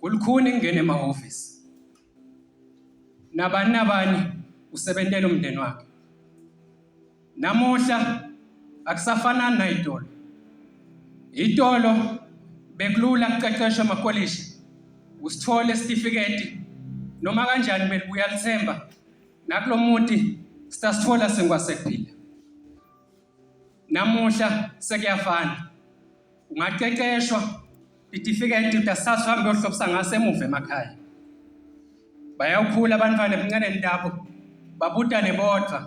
Kulukhuni ngingena emahhovisi. Nabani nabani usebentela umndeni wakhe. Namuhla akusafanani nayitolo. Itolo bekulula kuqeqeshwa amakolishi usithole isitifiketi noma kanjani belibuya lithemba nakulomuti stasithola sengwasekuphila. namuhla sekuyafana ungaqeqeshwa itifiketi utasasa uhambe uyohlobisa ngaso emuva emakhaya bayawukhula abantwana ebuncaneni labo babudane bodwa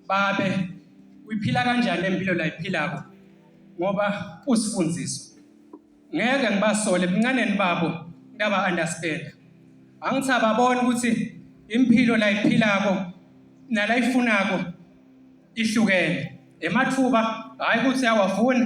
babe uyiphila kanjani lempilo la iphilako ngoba usifundiso ngeke ngibasole ebuncaneni babo ndaba understand angithi ababona ukuthi impilo la iphilako nala ifunako ihlukene emathuba hhayi ukuthi awafuni